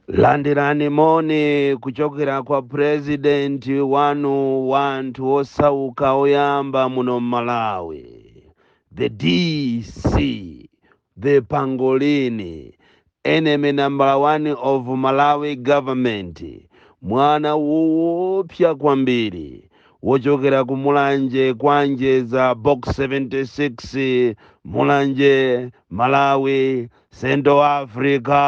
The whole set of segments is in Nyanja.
landirani moni kuchokera kwa purezidenti wanu wa anthu wosauka oyamba muno m'malawi the dc the pangolin enemy number one of malawi government mwana woopsa kwambiri wochokera ku Mulanje kwa Njeza box 76 Mulanje Malawi Central Africa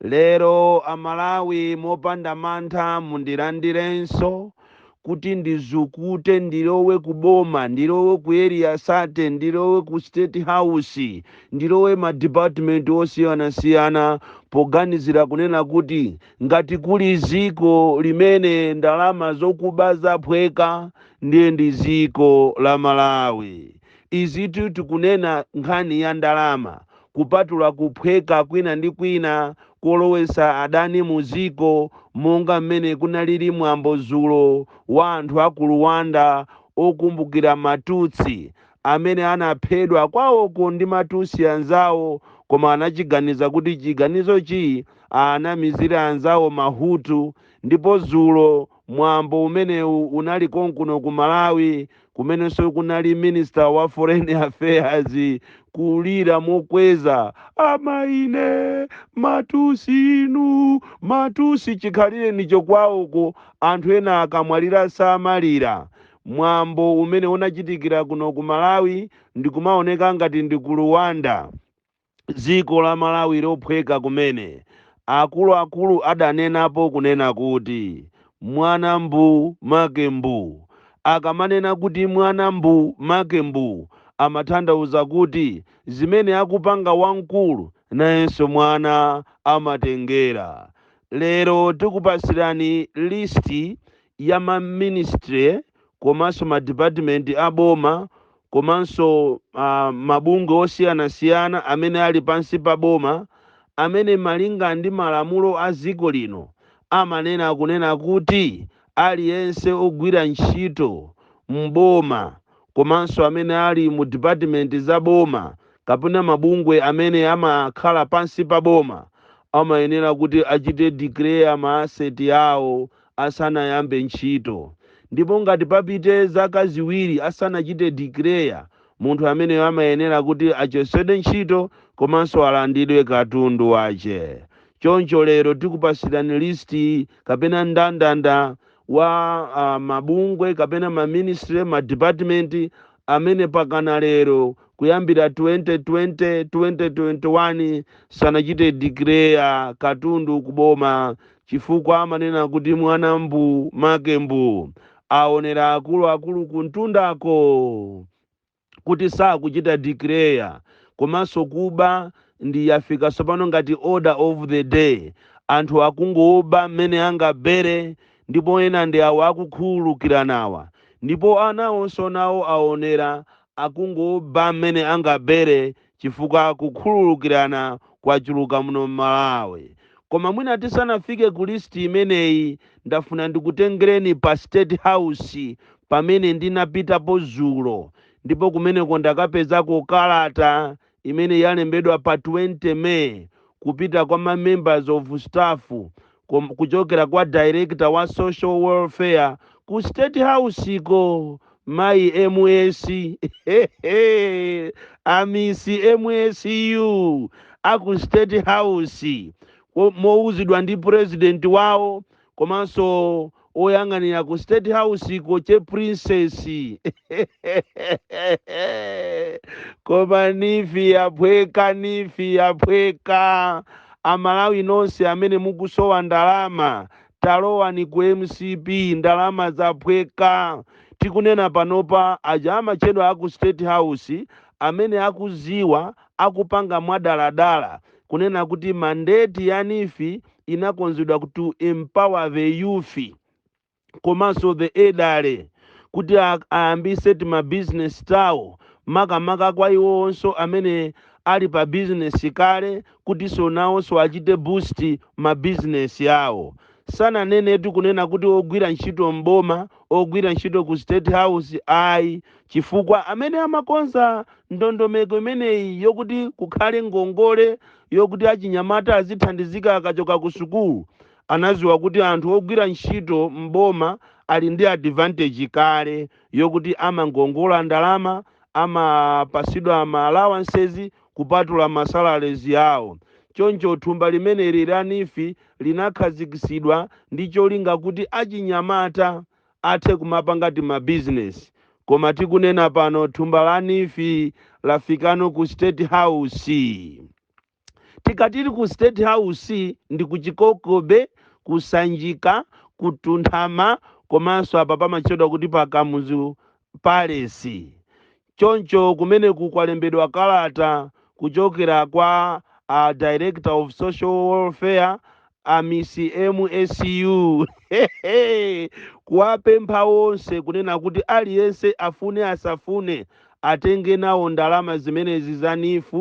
lero amalawi mopanda mantha mundilandirenso kuti ndizukute ndilowe ku boma ndilowe ku area 30 ndilowe ku state house ndilowe ma department osiyanasiyana poganizira kunena kuti Ngati kuli ziko limene ndalama zokuba zaphweka ndiye ndi ziko la Malawi. Izitu tikunena nkhani ya ndalama kupatula kuphweka kwina ndi kwina kolowesa adani mu ziko monga mmene kunalili mwambo zulo wa anthu aku Luwanda okumbukira ma Tutsi amene anaphedwa kwawoko ndi ma Tutsi anzawo koma anachiganiza kuti chiganizochi anamizire anzawo ma Hutu ndipo dzulo mwambo umenewu unali konkuno ku Malawi kumenenso kunali Minister wa Foreign Affairs kulira mokweza ama ine ma Tutsi inu ma Tutsi chikhalirecho kwawoko anthu ena akamwalira samalira mwambo umene unachitikira kuno ku Malawi ndikumaoneka ngati ndi ku Rwanda dziko la Malawi lophweka kumene, akuluakulu adanenapo kunena kuti mwana mbuu make mbuu. Akamanena kuti mwana mbuu make mbuu amatanthauza kuti zimene akupanga wamkulu nayenso mwana amatengera. Lero tikupatsirani list ya ma ministry komanso ma department a boma komanso uh, mabungwe osiyanasiyana amene ali pansi pa boma amene malinga ndi malamulo a dziko lino amanena kunena kuti aliyense ogwira ntchito m'boma komanso amene ali mu department za boma kapena mabungwe amene amakhala pansi pa boma amayenera kuti achite declare ma asset awo asanayambe ntchito. Ndipo ngati papite zaka ziwiri asanachite declare, munthu ameneyo amayenera kuti achosedwe ntchito komanso alandidwe katundu wache. Choncho lero tikupasilani list kapena ndandanda wa mabungwe kapena ma ministry, ma department amene pakana lero kuyambira 2020, 2021 sanachite declare katundu ku boma Chifukwa amanena kuti mwana mbuu, make mbuu. Aonera akuluakulu kumtundako kuti sakuchita declare komanso kuba ndi yafika tsopano ngati order of the day. Anthu akungoba mmene angabere ndipo ena ndi awa akukhululukiranawa. Ndipo anawonso nawo aonera akungoba mmene angabere chifukwa kukhululukirana kwachuluka muno m'Malawi. Koma mwina tisanafike ku list imeneyi, ndafuna ndikutengereni pa State House pamene ndinapitapo zulo ndipo kumeneko ndakapezako kalata imene yalembedwa pa 20 May kupita kwa ma members of staff kuchokera kwa director wa social welfare ku state house ko mayi ms amisi msu aku state house mowuzidwa ndi president wawo komanso oyang'anira ku state house ko che prince koma NEEF yaphweka NEEF yaphweka amalawi nonse amene mukusowa ndalama talowani ku mcp ndalama zaphweka tikunena panopa aja amatchedwa aku state house amene akuziwa akupanga mwadaladala kunena kuti mandate ya NEEF inakonzedwa to empower the youth komanso the elderly kuti ayambise tima business tawo makamaka kwa iwowonso amene ali pa business kale kutinso nawonso achite boost ma business awo sananenetu kunena kuti ogwira ntchito m'boma ogwira ntchito ku state house ayi chifukwa amene amakonza ndondomeko imeneyi yokuti kukhale ngongole yokuti achinyamata azithandizika akachoka kusukulu anaziwa kuti anthu ogwira ntchito m'boma ali ndi advantage kale yokuti amangongola ndalama amapasidwa ma allowances kupatula ma salaries awo choncho thumba limeneli la NEEF linakhazikisidwa ndi cholinga kuti achinyamata athe kumapanga tima bizinesi koma tikunena pano thumba la NEEF lafikano ku state house tikatiri ku state house ndi ku Chikoko Bay ku Sanjika ku Mtunthama komanso apa pamatchedwa kuti pa kamuzu palace Choncho kumeneku kwalembedwa kalata kuchokera kwa a Director of Social Welfare a Miss MSU kuwapempha onse kunena kuti aliyense afune asafune atenge nawo ndalama zimenezi za NEEF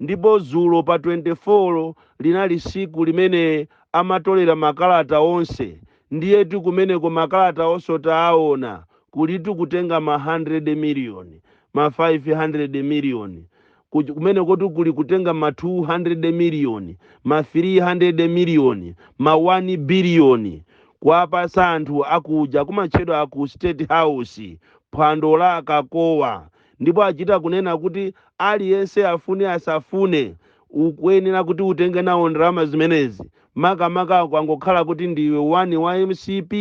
ndipo zulo pa 24 linali siku limene amatolera makalata onse ndiyetu kumeneko makalata onse taawona kulitu kutenga ma 100 million, ma 500 million, ku- kumenekotu kuli kutenga ma 200 million, ma 300 million, ma 1 billion kuwapasa anthu akuja kumatchedwa aku state house phwando la akakowa ndipo achita kunena kuti aliyense afune asafune ukuyenera kuti utenge nawo ndalama zimenezi makamaka kwangokhala kuti ndiwe wani wa MCP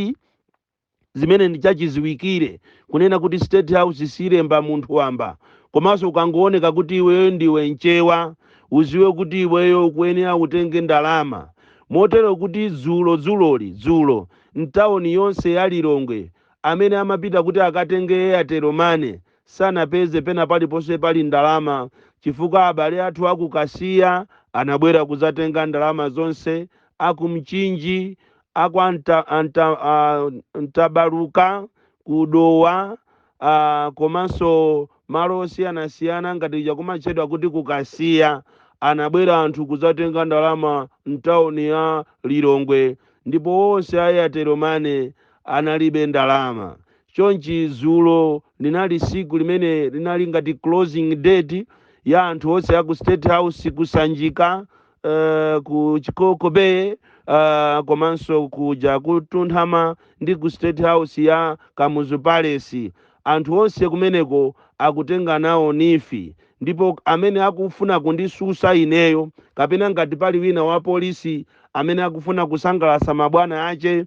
zimene ndi chachidziwikire kunena kuti state house silemba munthu wamba komanso ukangooneka kuti iweyo ndiwe mchewa uziwe kuti iweyo ukuyenera utenge ndalama motero kuti dzulo dzuloli dzulo mtawoni yonse ya Lilongwe amene amapita kuti akatenge airtel money sanapeze pena paliponse pali ndalama chifukwa abale athu a ku Kasiya anabwera kudzatenga ndalama zonse a ku Mchinji a kwa Nta, a Nta, a Mtabaluka ku Dowa a komanso malo osiyanasiyana ngati kuja kumatchedwa kuti ku Kasiya anabwera anthu kudzatenga ndalama mtauni ya Lilongwe ndipo onse a Airtel Money analibe ndalama. Chonchi dzulo linali siku limene linali ngati closing date ya anthu onse a ku State House ku Sanjika uh, ku chikoko bay uh, komanso kuja ku Mtunthama ndi ku state house ya kamuzu palace anthu onse kumeneko akutenga nawo NEEF ndipo amene akufuna kundisusa ineyo kapena ngati pali wina wa polisi amene akufuna kusangalasa mabwana ache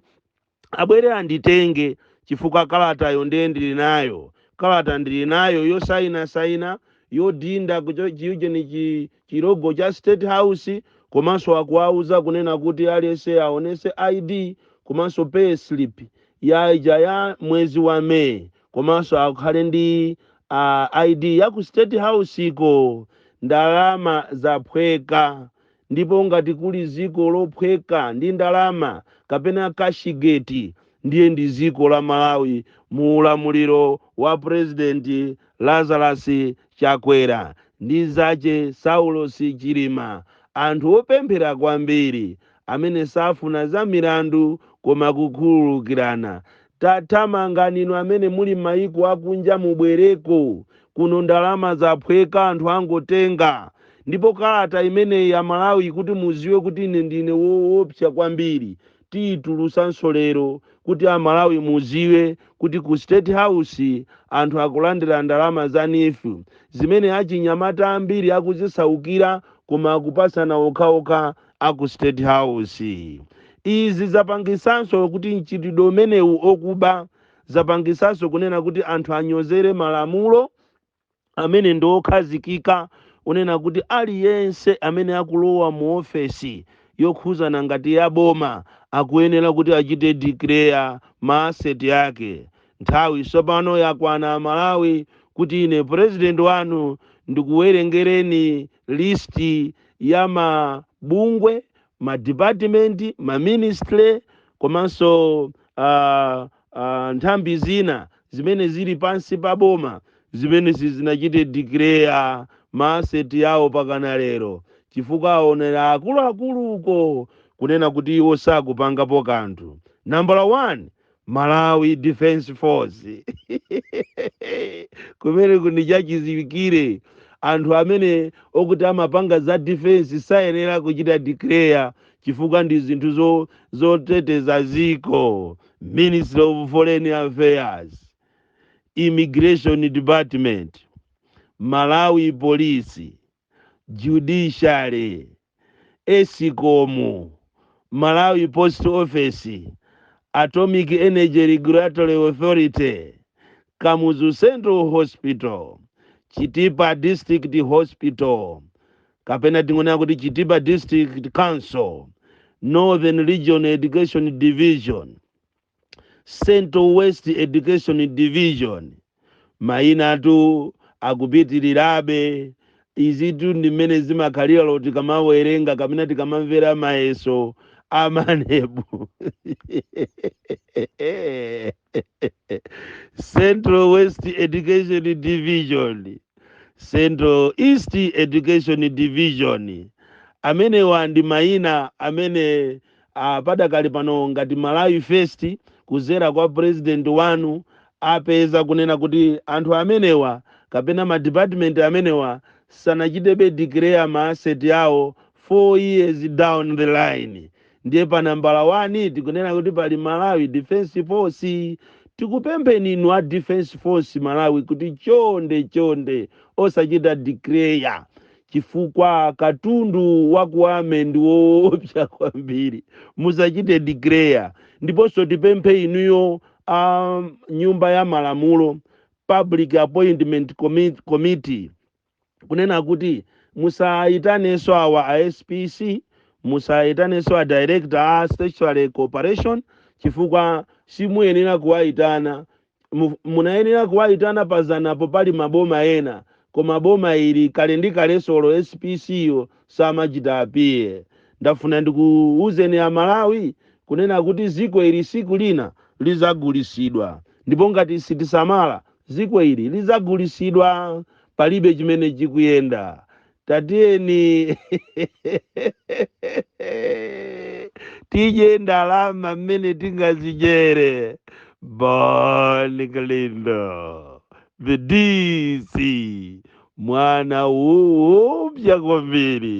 abwere anditenge chifukwa kalatayo ndiye ndili nayo kalata ndili nayo yosaina saina yodinda kucho- chiujeni chi- chilogo cha state house komanso akuwauza kunena kuti aliyense aonese id komanso pay slip ya ija ya mwezi wa may komanso akhale ndi uh, id ya ku state house ko ndalama zaphweka Ndipo ngati kuli ziko lophweka ndi ndalama kapena cashgate ndiye ndi ziko la Malawi mu ulamuliro wa president Lazarus Chakwera ndi zache Saulos Chilima anthu opemphera kwambiri amene safuna za milandu koma kukhululukirana Tathamangani inu amene muli mmayiko akunja mubwereko kuno ndalama zaphweka anthu angotenga ndipo kalata imeneyi amalawi kuti muziwe kuti ine ndine woopsa kwambiri tiitulusanso lero kuti amalawi muziwe kuti ku state house anthu akulandira ndalama za neef zimene achinyamata ambiri akuzisaukira koma akupasana okhaokha a ku State House. Izi zapangisanso kuti mchitidwe umenewu okuba zapangisanso kunena kuti anthu anyozere malamulo amene ndi okhazikika unena kuti aliyense amene akulowa mu ofesi yokhuzana ngati ya boma akuyenera kuti achite declare ma asset yake. Nthawi sopano yakwana Amalawi kuti ine president wanu ndikuwerengereni list ya ma bungwe, ma department, ma ministry komanso nthambi zina zimene zili pansi pa boma zimene sizinachite declare ma asset yawo pakana lero chifukwa aonera akuluakulu uko kunena kuti iwo sakupangapo kanthu. Nambala 1 malawi defense force kumene kundi chachiziwikire anthu amene okuti amapanga za defense sayenera kuchita declare chifukwa ndi zinthu zoteteza ziko ministry of foreign affairs immigration department malawi police judiciary, escom, Malawi Post Office, Atomic Energy Regulatory Authority, Kamuzu Central Hospital, Chitipa District Hospital, kapena tingonena kuti Chitipa District Council, Northern Region Education Division, Central West Education Division mayinatu akupitirirabe izitu ndi mmene zimakhalira lo tikamawerenga kapena tikamamvera mayeso a MANEB Central West Education Division Central East Education Division amenewa ndi mayina amene a Padakali pano ngati Malawi First kuzera kwa president wanu apeza kunena kuti anthu amenewa kapena ma department amenewa sanachitebe declare ma asset awo 4 years down the line ndiye pa nambala 1 tikunena kuti pali Malawi Defence Force. Tikupempheni inu a Defence Force Malawi kuti chonde chonde osachita declare chifukwa katundu wa ku Gwamnda ndi woopsa kwambiri musachite declare ndiponso tipemphe inuyo nyumba ya malamulo public appointment Commit- committee kunena kuti musayitanenso awa a spc musayitanenso a director a statutory corporation chifukwa simuyenera kuwayitana mu- munayenera kuwayitana pazanapo pali maboma ena koma boma ili kale ndi kale solo spc yo samachita appear ndafuna ndikuwuzeni a Malawi kunena kuti ziko ili siku lina lizagulisidwa ndipo ngati sitisamala ziko ili lizagulisidwa palibe chimene chikuyenda tatiyeni tidye ndalama mmene tingazijere bon kalindo the dc mwana woopsa kwambiri